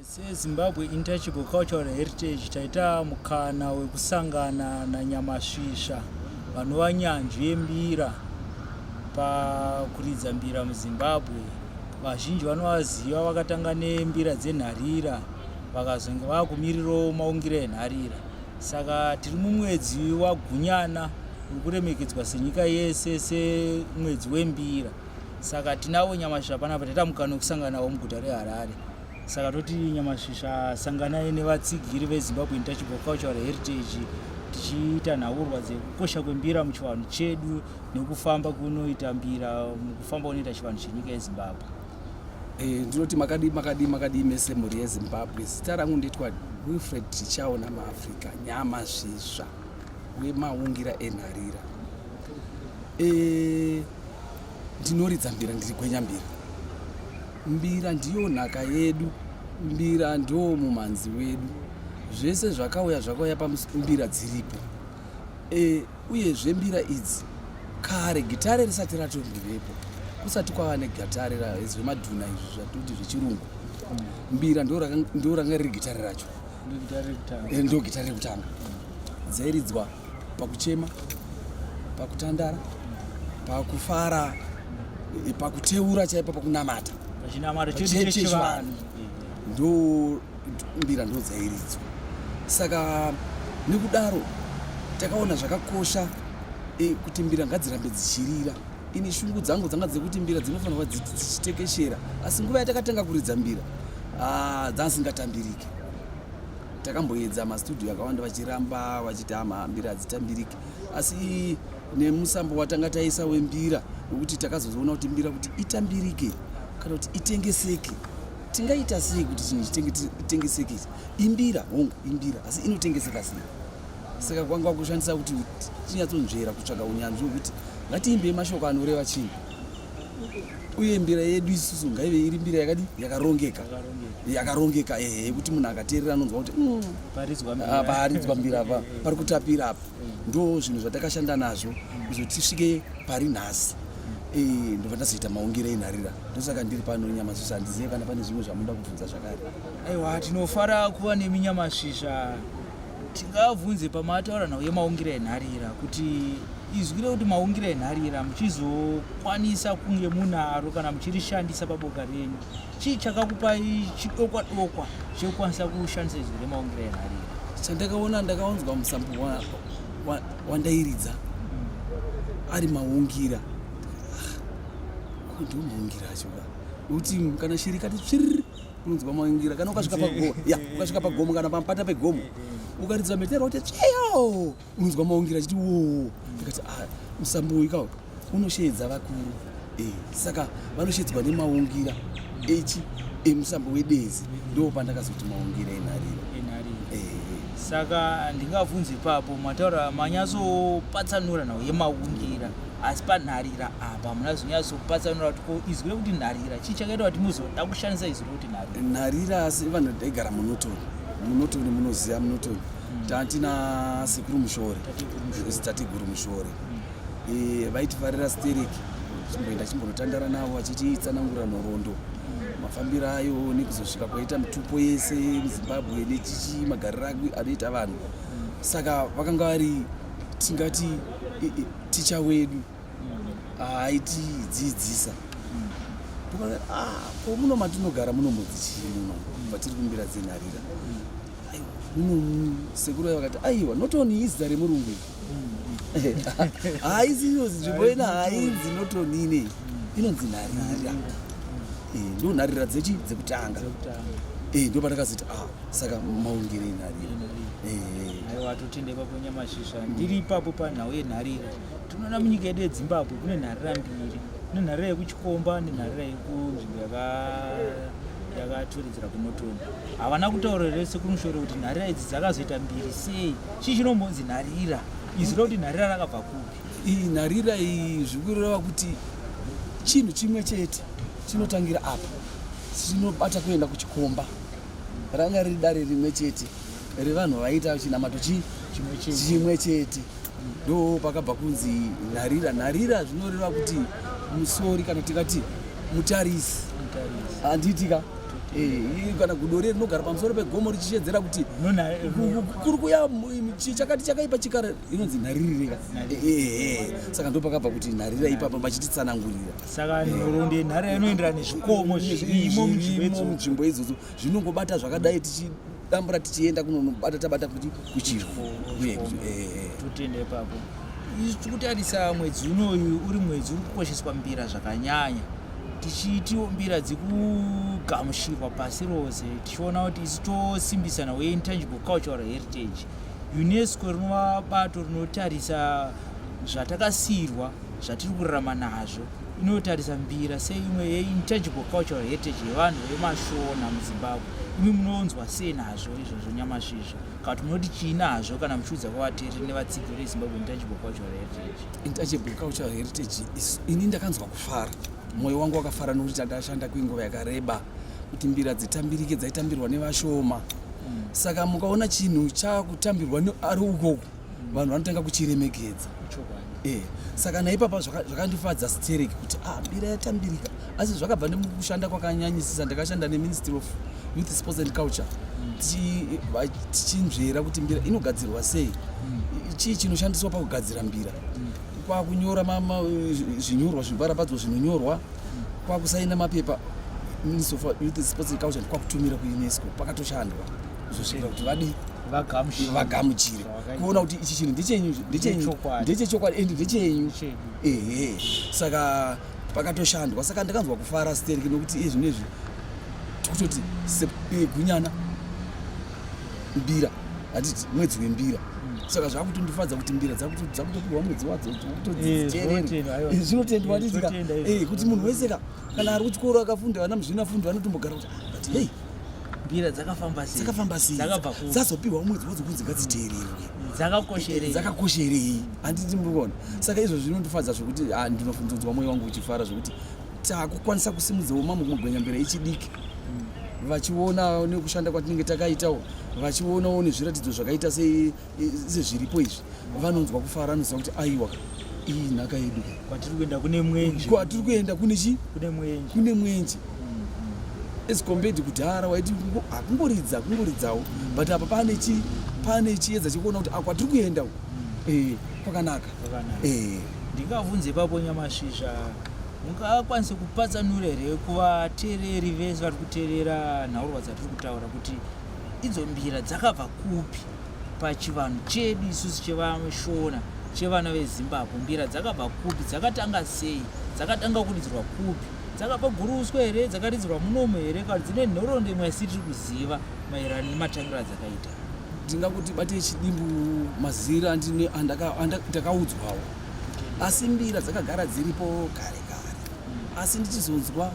sezimbabwe intouchable cultural heritage taita mukana wekusangana nanyamasvisva vanova nyanzvi yembira pakuridza mbira muzimbabwe vazhinji vanovaziva vakatanga nembira dzenharira vakazonge vava kumirirawo maungiro enharira saka tiri mumwedzi wagunyana uri kuremekedzwa senyika yese semwedzi wembira saka tinavo nyamasvisva panapa taita mukana wekusanganawo muguta reharare saka toti nyamasvisva sanganai nevatsigiri vezimbabwe intouchable cultural heritage tichiita nhaurwa dzekukosha kwembira muchivanhu chedu nekufamba kunoita mbira mukufamba kunoita chivanhu chenyika yezimbabwe Eh, ndinoti makadii makadii makadii mese mhuri yezimbabwe zita rangu ndoitwa wilfred tichaona maafrica nyama zvisva wemaungira enharira eh, ndinoridza mbira ndiri gwenya mbira mbira ndiyo nhaka yedu mbira ndoo mumhanzi wedu zvese zvakauya zvakauya pambira dziripo eh, Uyezve mbira idzi kare gitare risati ratondivepo kusati kwava negatare zvemadhuna izvi zvatoti zvechirungu mbira ndo ranga riri gitare racho ndo gitare rekutanga eh, dzairidzwa pakuchema pakutandara pakufara eh, pakuteura chaipa pakunamata ndo mbira ndodzairidzwa saka nekudaro takaona zvakakosha e, kuti mbira ngadzirambe dzichirira ini shungu dzangu dzanga dzekuti mbira dzinofanirwa dzichitekeshera asi nguva yatakatanga kuridza mbira ah, dzangasingatambirike takamboedza mastudio akawanda vachiramba vachiti ama mbira hadzitambirike asi nemusambo watanga taisa wembira wekuti takazozoona kuti mbira kuti itambirike kana kuti itengeseke tingaita sei kuti chinhu chitengeseke imbira hongu imbira asi inotengeseka sei saka kwanga kushandisa kuti tinyatsonzvera kutsvaga unyanzvi wekuti ngatiimbei mashoko anoreva chinhu uye mbira yedu isusu ngaive iri mbira yakadi yakarongeka yakarongeka ehe yekuti munhu akateerera anonzwa kuti mm, paaridzwa mbira apa pari kutapira apa mm. ndo zvinhu zvatakashanda nazvo kuzotisvike pari nhasi Eh, ndobva ndazoita maungire enharira ndosaka ndiri pano nyamasvisva handizive kana pane zvimwe zvamunoda kubvunza zvakare aiwa tinofara kuva nemi nyamasvisva tingabvunze pamataura nhau yemaungire enharira kuti izwi rekuti maungire enharira muchizokwanisa kunge munaro kana muchirishandisa paboka renyu chii chakakupai chidokwa dokwa chekukwanisa kushandisa izwi remaongero enhari chandakaona ndakaunzwa musambo wandairidza wa, wa ari maungira ah, ndomaungira acho ka nokuti kana shiri kati tsviriri unonzwa maungira kana ukasvika pagomo ya ukasvika pagomo kana pampata pegomo ukaridza mhetero kuti tsviyo unonzwa maungira achiti woo ndikati ah, musambo uyu kawo unosheedza vakuru eh, saka vanosheedzwa nemaungira echi emusambo wedezi ndo pandakazoti maungira enhariro eh, eh. saka ndingavhunzi ipapo mataura manyatsopatsanura nhau yemaungira asi panharira apa hamuna zvinyasopatsanura kuti ko izwi rekuti nharira chii chakaita kuti muzoda kushandisa izwi rekuti nharira nharira asi vanhu daigara munotoni munotoni munoziva munotoni tati nasekuru mushore because tateguru mushore eh, vaitifarira sterik chimboenda chimbonotandara navo vachitiitsanangura nhorondo mafambiro ayo nekuzosvika kwaita mitupo yese muzimbabwe nechichi magariro anoita vanhu saka vakanga vari tingati ticha wedu aitidzidzisa ah, ko muno matinogara munombodzi chii muno vatiri kumbira dzenharira sekuru ayo vakati aiwa not only izita remurungu iri haisi iyo nzvimbo ina hainzi not only inei inonzi nharira eh, ndo nharira dzechi dzekutanga eh, ndo patakazoti ah, saka maungire nharira eh, aiwa totendekwa kunyama shisha ndiri ipapo panhau yenharira tinoona munyika yedu yedzimbabwe kune nharira mbiri kune nharira yekuchikomba nenharira yekunzvimbo yakatoredzera kunotoni havana kutaura rese kunoshore kuti nharira idzi dzakazoita mbiri sei chii chinombonzi nharira izwi rokuti nharira rakabva kupi iyi nharira iyi zvikureva kuti chinhu chimwe chete chinotangira apa chinobata kuenda kuchikomba ranga riri dare rimwe chete revanhu vaiita chinamato chii chimwe chete ndo pakabva kunzi nharira nharira zvinoreva kuti musori kana tikati mutarisi handiitika eh, kana gudore rinogara pamusoro pegomo richishedzera kuti kuri kuya chakati chakaipa chikara inonzi nharirireka eh, eh, saka ndo pakabva kuti nharira ipapa vachititsanangurira saka nhoro ndenharira inoenderana nezvikomo zvirimo munzvimbo idzodzo zvinongobata zvakadai tichi dambura tichienda kunonobata tabata kuti kuchiro uye kuti eh, tutende eh. ipapo izvi tiri kutarisa mwedzi unoyu uri mwedzi uri kukosheswa mbira zvakanyanya tichiitiwo mbira dzikugamushirwa pasi rose tichiona kuti isu tosimbisana weintangible cultural heritage unesco rinova bato rinotarisa zvatakasiyirwa zvatiri kurarama nazvo inotarisa mbira seimwe yeintangible cultural heritage yevanhu vemashona muzimbabwe imi munonzwa sei nazvo izvozvo nyamashi izvo kana kuti munoti chii nazvo kana muchiudza kwavateereri nevatsigiri vezimbabwe intangible cultural heritage intangible cultural heritage ini ndakanzwa kufara mwoyo wangu wakafara nokuti takashanda kwenguva yakareba kuti mbira dzitambirike dzaitambirwa nevashoma hmm. saka mukaona chinhu chakutambirwa ari ukoko vanhu vanotanga kuchiremekedza e saka naipapa zvakandifadza zvaka stereki kuti ah, mbira yatambirika asi zvakabva nemukushanda kwakanyanyisisa ndakashanda neministry of youth sports and culture tichinzvera mm. kuti mbira inogadzirwa sei mm. chii chinoshandiswa pakugadzira mbira mm. kwakunyora zvinyorwa zvibarapadzwa zvinonyorwa kwakusaina mapepa ministry of youth sports and culture kwakutumira kuunesco pakatoshandwa zvosvira kuti vadii vagamuchire kuona kuti ichi chinhu ndechenyu ndechechokwadi and ndechenyu ehe saka pakatoshandwa saka ndakanzwa kufara stereki nokuti iye zvino izvi tikutoti eh, gunyana mbira hatiti mwedzi wembira saka zvakutondifadza kuti mbira dzakutopiwa mwedzi wadzo zvinotendewa kuti munhu wese ka kana ari kuchikoro akafunda vana muzvinafundo vanotombogara kuti but hei mbira dzakafamba sei dzakafamba sei dzakabva ku dzazopiwa umwedzi wodzi kunzi ngadziteererwe dzakakosherei dzakakosherei handiti murikuona saka izvo zvinondifadza zvekuti ah, ndinofunzonzwa mwoyo wangu uchifara zvekuti takukwanisa kusimudzawo mamwe kumagwenya mbira ichidiki vachionawo nekushanda kwatinenge takaitawo vachionawo nezviratidzo zvakaita sei sezviripo izvi vanonzwa kufara anoziva kuti aiwa iyi nhaka yedu kwatiri kuenda kune mwenje kwatiri kuenda kune chi kune mwenje kune mwenje mm-hmm. as compared kudhara waiti hakungoridza kungoridzawo but apa pane chi pane chiedza chekuona kuti akwatiri kuenda u mm. eh, kwakanaka eh. ndingavunze ipapo nyamashisha mungakwanise kupatsanura here kuvateereri vese vari kuteerera nhaurwa dzatiri kutaura kuti idzo mbira dzakabva kupi pachivanhu chedu isusu chevashona chevana vezimbabwe mbira dzakabva kupi dzakatanga sei dzakatanga kuridzirwa kupi dzakabva guruswa here dzakaridzirwa munomo here kana dzine nhoroondo imwe asi tiri kuziva maererano nematangira adzakaita ndinga kuti bate chidimbu mazira andakaudzwawo asi mbira dzakagara dziripo kare kare hmm. asi ndichizonzwa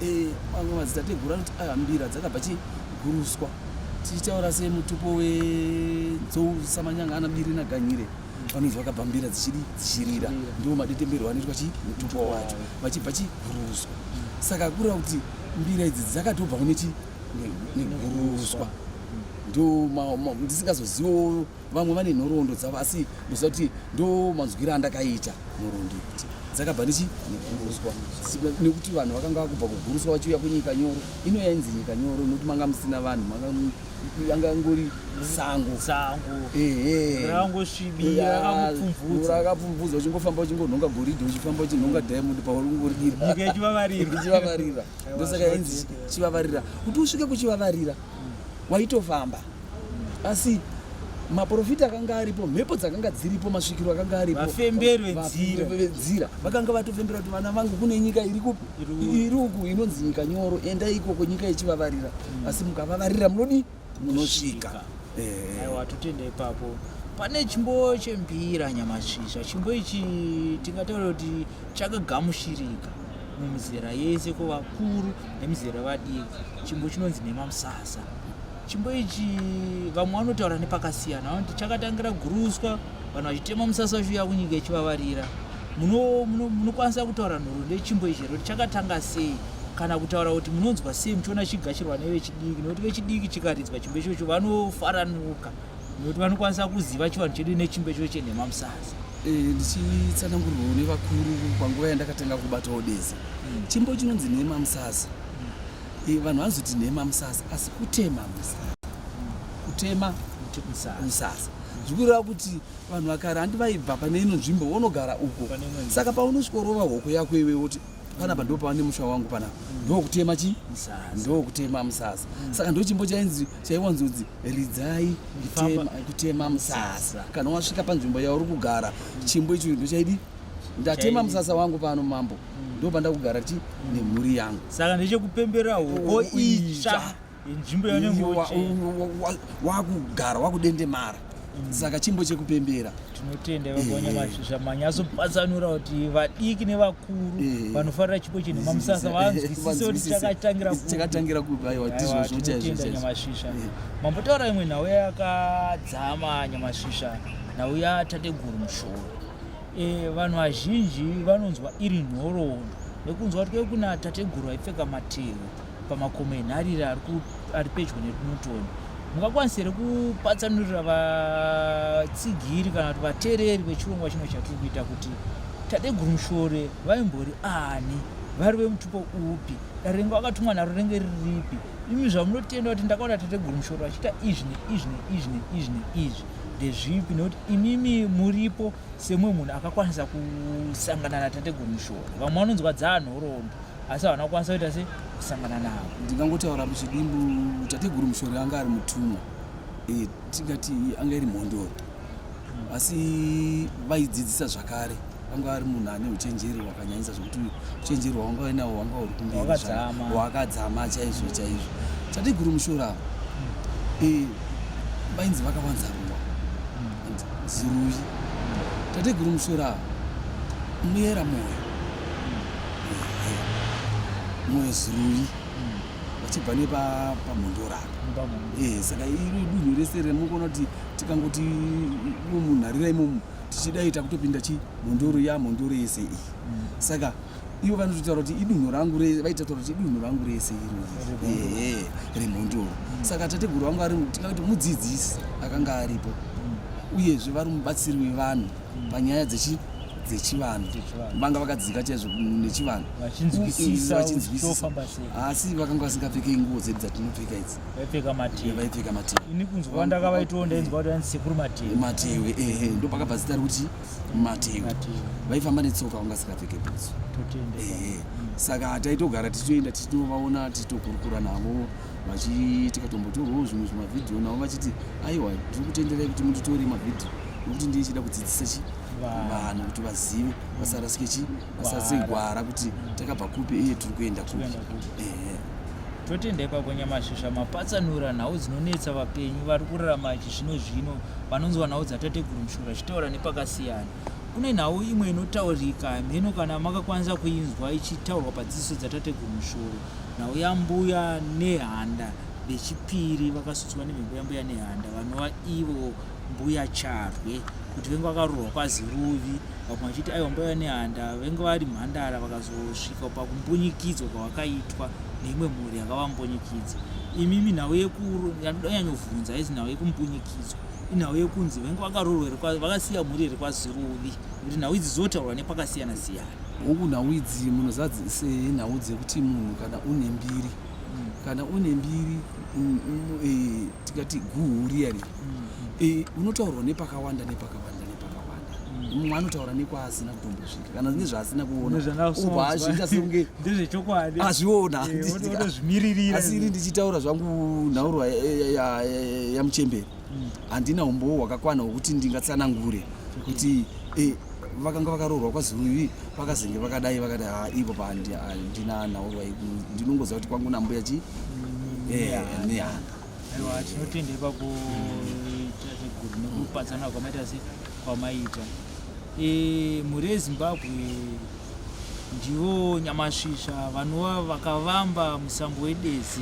Eh, mamwe madzitateguru anoti aya mbira dzakabva chiguruswa tichitaura semutupo wenzou samanyanga anabiri naganyire vanonzi vakabva mbira dzichidi dzichirira ndiwo madetemberwo anoitwa chi mutupo wacho vachibva chiguruswa saka kureva kuti mbira idzi dzakatobva kune chi neguruswa ndo ndisingazozivawo vamwe vane nhoroondo dzavo asi ndoziva kuti ndo manzwira andakaita nhoroondo ikuti dzakabva ndichi neguruswa nekuti vanhu vakanga vakubva kuguruswa vachiuya kunyika nyoro ino yainzi nyika nyoro nokuti manga musina vanhu yanga ngori sango sangorangosvibirakapfumvudza uchingofamba uchingonhonga goridhi uchifamba uchinhonga diamond paurungoridichivavarira ndosaka yainzi chivavarira kuti usvike kuchivavarira waitofamba asi maprofita akanga aripo mhepo dzakanga dziripo masvikiro akanga aripo vafemberi vedzira vakanga vatofembera kuti vana vangu kune nyika iri kupi iri uku inonzi nyika nyoro enda ikoko nyika ichivavarira mm. asi mukavavarira munodi munosvika eh. aiwa totenda ipapo pane chimbo chembira nyamasvisva chimbo ichi tingataura kuti chakagamushirika mumizera yese ko vakuru nemizera vadiki chimbo chinonzi nemamusasa chimbo ichi vamwe vanotaura nepakasiyana vanoti chakatangira guruswa vanhu vachitema musasa vachiuya kunyika ichivavarira munokwanisa kutaura nhoro nechimbo ichi here kuti chakatanga sei kana kutaura kuti munonzwa sei muchiona chigashirwa nevechidiki nekuti vechidiki chikaridzwa chimbo ichocho vanofaranuka nekuti vanokwanisa kuziva chivanhu chedu nechimbo ichocho chenhema musasa eh, ndichitsanangurwawo nevakuru panguva yandakatanga kubatawo deze hmm. chimbo chinonzi nhema musasa Eh, vanhu vanozoti nhema musasa asi kutema musasa kutema musasa zvikureva kuti vanhu vakara handi vaibva pane ino nzvimbo vonogara uko saka paunosvikorova hoko yako iwe woti panapa ndo pavane musha wangu panapa mm. ndokutema chi ndokutema musasa mm. saka ndo chimbo chainzi chaiwanzonzi ridzai kutema musasa kana wasvika panzvimbo yauri kugara mm. chimbo icho ndo chaidi ndatema musasa wangu pano mambo ndo pandakugara ti nemhuri yangu saka ndechekupembera hoko oh, itsva inzvimbo yanenge wakugara wakudendemara mm. saka chimbo chekupembera tinotenda vagonya eh. mashizha manyazopatsanura kuti vadiki nevakuru eh. vanofarira chipo chinhu mamusasa vanzwisise kuti chakatangira kubatinotenda nyamashisha eh. mambotaura imwe nhau yakadzama nyamashisha nhau yatateguru mushoro E, vanhu vazhinji vanonzwa iri nhoroondo nekunzwa kuti kuna tateguru aipfeka matehwe pamakomo enharire ari pedyo nekunotoni mungakwanisa here kupatsanurira vatsigiri kana kuti vatereri vechirongwa chino chatiri kuita kuti tateguru mushore vaimbori ani vari vemutupo upi darengo akatumwa naro renge riripi imi zvamunotenda kuti ndakaona tateguru mushore vachiita izvi neizvi neizvi neizvi neizvi ndezvipi nekuti imimi muripo semumwe munhu akakwanisa kusangana natateguru mushoro vamwe vanonzwa dzaanhoroondo asi havana kukwanisa kuita se kusangana navo ndingangotaura muchidimbu tateguru mushori anga ari mutumwa e, tingati anga iri mhondoro asi vaidzidzisa zvakare anga ari munhu ane uchenjeri hwakanyanyisa zvekuti uchenjeri hwaanga ainawo hwanga huri kumberi hwakadzama chaizvo chaizvo chatiguru mushora eh, vainzi vakawanza ruwa ziruyi tateguru mushora muyera moyo moyo ziruyi vachibva nepamhondoraka eh, saka iri dunhu rese remukoona kuti tikangoti munharira imomu tichida ita kutopinda chi mhunduru ya mhunduru yese iyi mm. saka ivo vanototaura kuti idunhu rangu vaitataura kuti idunhu rangu rese iro remhunduru mm. saka tateguru vangu ari tingati mudzidzisi akanga aripo mm. uyezve vari mubatsiri wevanhu panyaya dzechi dzechivanhu vanga vakadzika chaizvo nechivanhu vachinzwisisa asi vakanga vasingapfekei nguo dzedu dzatinopfeka idzi vaipfeka mativi vaipfeka mativi ini kunzwa ndakavaitawo ndainzwa kuti vanzi sekuru mativi mativi ehe eh, ndo pakabva zita rekuti mativi vaifamba netsoka vanga sikapfeke bhutsu ehe eh, saka taitogara tichitoenda tichitovaona tichitokurukura navo tikatombotorwawo zvimwe zvimavhidhiyo navo vachiti aiwa ndiri kutenderai kuti munditore mavhidhiyo nekuti ndiye chida kudzidzisa chi vanhu kuti vazive vasarasike chi Asatse gwara kuti takabva kupi iye tiri kuenda kupi. Ehe. totenda ipapo nyamasvisva mapatsanura nhau dzinonetsa vapenyu vari kurarama chizvino zvino vanonzwa nhau dzatateguru mushura zvichitaura nepakasiyana kune nhau imwe inotaurika hamheno kana makakwanisa kuinzwa ichitaurwa padzidziso dzatateguru mushuru nhau yambuya nehanda vechipiri vakasutswa nemhepo yambuya nehanda vanova ivo mbuya charwe kuti venge vakarurwa kwaziruvi vamwe vachiti aiwa mbaiva nehanda venge vari mhandara vakazosvika pakumbunyikidzwa kwavakaitwa neimwe mhuri yakavambunyikidzwa imimi nhau yekuyanyanyovhunza haizi nhau yekumbunyikidzwa inhau yekunzi venge vakarurwa here vakasiya mhuri here kwaziruvi kuti nhau idzi dzinotaurwa nepakasiyana siyana huku nhau idzi munhu zadzise nhau dzekuti munhu kana une mbiri mm. kana une mbiri mm, mm, eh, tikati guhuriyani unotaurwa nepakawanda nepakawanda nepakawanda mumwe anotaura nekwaasina kutombosvika kana zvinge zvaasina kuonaazvionaasi iri ndichitaura zvangu nhaurwa yamuchemberi handina umbowo hwakakwana hwekuti ndingatsanangure kuti vakanga vakaroorwa kwaziruvi vakazenge vakadai vakadai ha ipo pandina nhaurwa ndinongoziva kuti kwangu nambuya chi nehanda aiwa tinotenda ipapo ita zveguru nekupatsana kwamaita se kwamaita Eh, mhuri yezimbabwe ndivo nyamasvisva vanova vakavamba musambo wedezi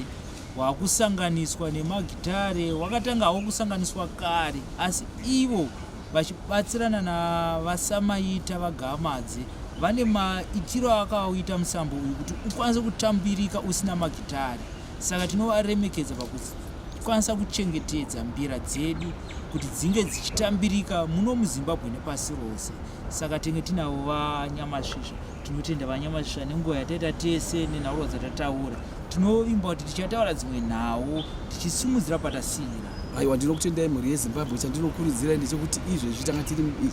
wakusanganiswa nemagitare wakatanga hawo kusanganiswa kare asi ivo vachibatsirana navasamaita vagamadze vane maitiro akauita musambo uyu kuti ukwanise kutambirika usina magitare Saka tinovaremekedza pakukwanisa kuchengetedza mbira dzedu kuti dzinge dzichitambirika muno muzimbabwe nepasi rose saka tenge tinavo vanyamasvisva tinotenda vanyamasvisva nenguva yataita tese nenhaurirwa dzatataura tinovimba kuti tichataura dzimwe nhau tichisimudzira patasiira aiwa ndinokutendai mhuri yezimbabwe chandinokurudzirai ndechekuti izvezvi tanga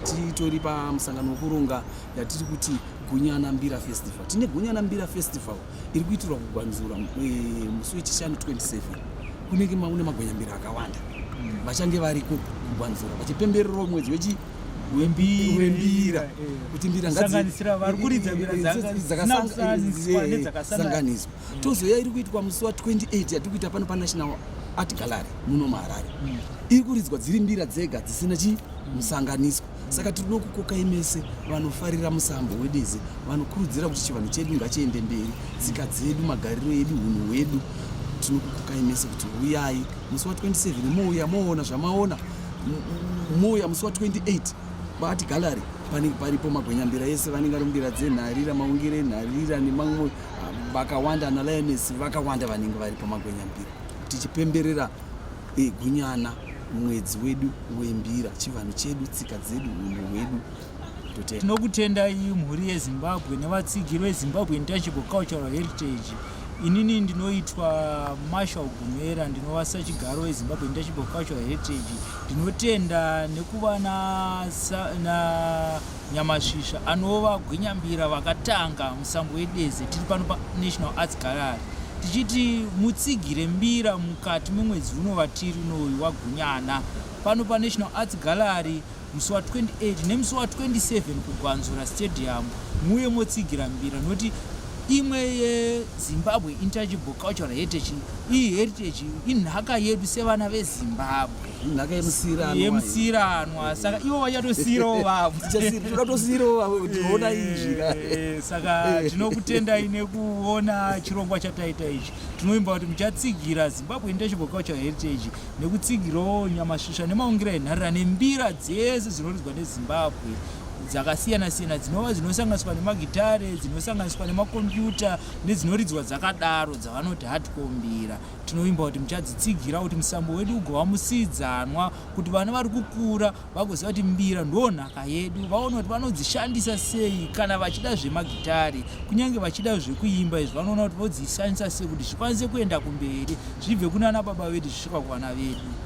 titori pamusangano wekuronga yatiri kuti gunyana mbira festival tine gunyana mbira festival iri kuitirwa kugwanzura eh, musi wechishanu 27 kunenge maune magwenyambira akawanda hmm. vachange variko kugwanzura vachipembererawo mwedzi wechi wembira kuti mbira dzakasanganiswa tozoya iri kuitwa musi wa 28 yatiri kuita pano panational art gallery muno muharare hmm. iri kuridzwa dziri mbira dzega dzisina chimusanganiswa saka tiri nokukokai mese vanofarira musambo wedeze vanokurudzira kuti chivanhu chedu ngachiende mberi tsika dzedu magariro edu hunhu hwedu tinokukokai mese kuti uyai musi wa 27 mouya moona zvamaona mouya musi wa 28 baati gallery panenge paripo magwenyambira ese vanenge vari mbira dzenharira maungire enharira nemamwe vakawanda analionesi vakawanda vanenge varipo magwenyambira tichipemberera Igunyana mwedzi wedu wembira chivanhu chedu tsika dzedu hunhu hwedu tinokutendai mhuri yezimbabwe nevatsigiri vezimbabwe intangible cultural heritage inini ndinoitwa marshal gumera ndinova sachigaro wezimbabwe intangible cultural heritage ndinotenda nekuva na, na Nyamasvisva anova gwinyambira vakatanga musambo wedeze tiri pano paNational Arts Gallery tichiti mutsigire mbira mukati memwedzi uno vatiri unoyu wagunyana pano panational arts gallery musi wa28 nemusi wa27 kugwanzura stadium muye motsigira mbira nokuti imwe yezimbabwe intangible cultural heritage iyi heritage inhaka yedu sevana vezimbabwe nhaka yemusirano yemusirano saka ivo vachatosiyirawo vavo toda tosiyirawo vavo kuti ona izvi eh, saka tinokutendai nekuona chirongwa chataita ichi tinovimba kuti muchatsigira zimbabwe international cultural heritage nekutsigirawo nyamasvisva nemaungira enharira nembira dzese dzinoridzwa nezimbabwe dzakasiyana siyana dzinova dzinosanganiswa nemagitare dzinosanganiswa nemakombiyuta nedzinoridzwa dzakadaro dzavanoti hatikombira tinovimba kuti muchadzitsigira kuti musambo wedu ugova musidzanwa kuti vana vari kukura vagoziva kuti mbira ndo nhaka yedu vaona kuti vanodzishandisa sei kana vachida zvemagitari kunyange vachida zvekuimba izvi vanoona kuti vodzishandisa sei kuti zvikwanise kuenda kumberi zvibve kunana baba vedu zvisvika kuvana vedu